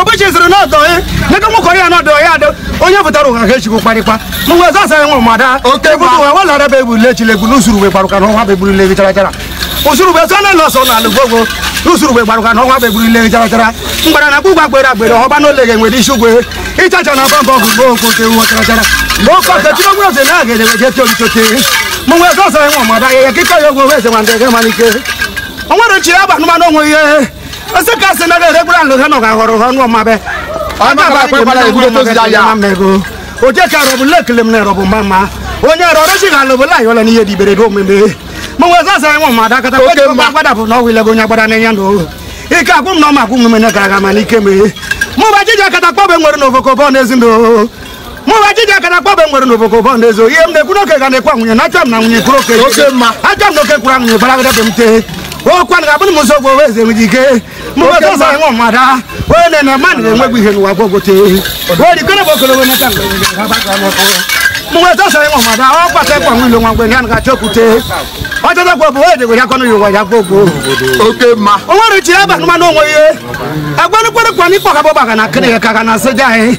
obuchi sịrị na ọdọ ya nega nwoke ọrịa na ọdọ ya adọ onye pụtara ụgha ka echikwu kparịkwa mgbe ọzọ asa ya nwụrụ ma daa Oke egwu ma. ụwa walara bụ egwu lechile egwu n'usuru ugbe gbarụka na ọnwa bụ egburu legi chara chara usuru ugbe sọ na nọsọ na alụ gbogbo n'usuru ugbe gbarụka na ọnwa bụ egburu legi chara chara mgbara na gbugba gbere agbere ọba na ole ga-enwere isi ugwe ịchacha na ọba mbọ bụ mgbe okwu oke nwa chara chara mgbe oke ọka chiri ogwe eze na aga edewe jeti olitote mgbe ọzọ asa ya nwụrụ ma daa ya ya kịta ya ogwe eze ma ndị ga-emalike o nwere chi ya bụ anụmanụ onwe ihe ọsị ka asị na ga-eregbura nlụ ha nọ ga ghọrọ ha ọnụ ọmabe oje ka rọbụ lekele m na rọbụ mama onye rọrọ chi ga alụ bụla yọla n'ihe dibere do omeme ma nwe zasa anyị nwa mmadụ akata gbada bụ na ọwụ ilego onye gbada n'enya na ohu ike akwụ m na ọma akwụ m mene gara aga mana ike mee mụ bụ ajịja akata kpọbe nwere na ofokobọ n'ezi ndụ mụwa jiji aka na kpọbe nwere n'obodo bọ n'ezo ihe m na-ekwu n'oke ga na-ekwu nwunye na achọ m na nwunye kwuru oke achọ m na oke kwuru nwunye bara agada m tee okwu a ga-abụ na m ụzọ ogbo wee eze nwere ike mụwa Oke ọzọ mma. ịnwụ mmadụ a, onye na-ene mmadụ na-enwegbu ihe n'ụwa gwogwo tee wee dikọrọ bụ okologo na aka mụwa ọzọ ịnwụ mmadụ a, ọ kpata ịkwa nwilo nwa mgbe ya na ga-achọ okwute ọjọjọ gwa bụ wee degwere akọnụ ya ụwa ya gwogwo oke mma o nwere chi ebe anụmanụ onwe ihe agwanụkwerekwa n'ikpọ ka bọba ga na akịrị ya ka ga na asịja anyị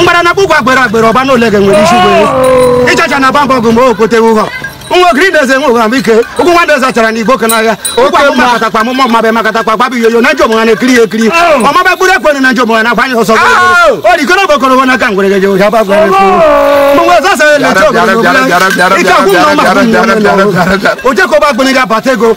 mgbara na kpụkwa agbere agbere ọba na ole ga nwere isi gwere ịchacha na bamba ọgụ mgbe okote ụghọ nwa ogiri na-eze nwe ụgha ike ụkwụ nwa na-eze chara na igbo ke n'agha ụkwụ amụma akatakwa amụma ọmabe makatakwa gbabi yoyo na njọ mụha na-ekiri ya ekiri ọmabe kpụrụ ekwere na njọ mụha na-agbanye ọsọ o rikọrọ bụ okoro na aka ngwere geje ụja ba gwara ekwu mgbe ọzọ sara na-eche ogologo ike akwụ na ọma akwụ na ọma na ọma ojekoba agbụnị ga-abata ego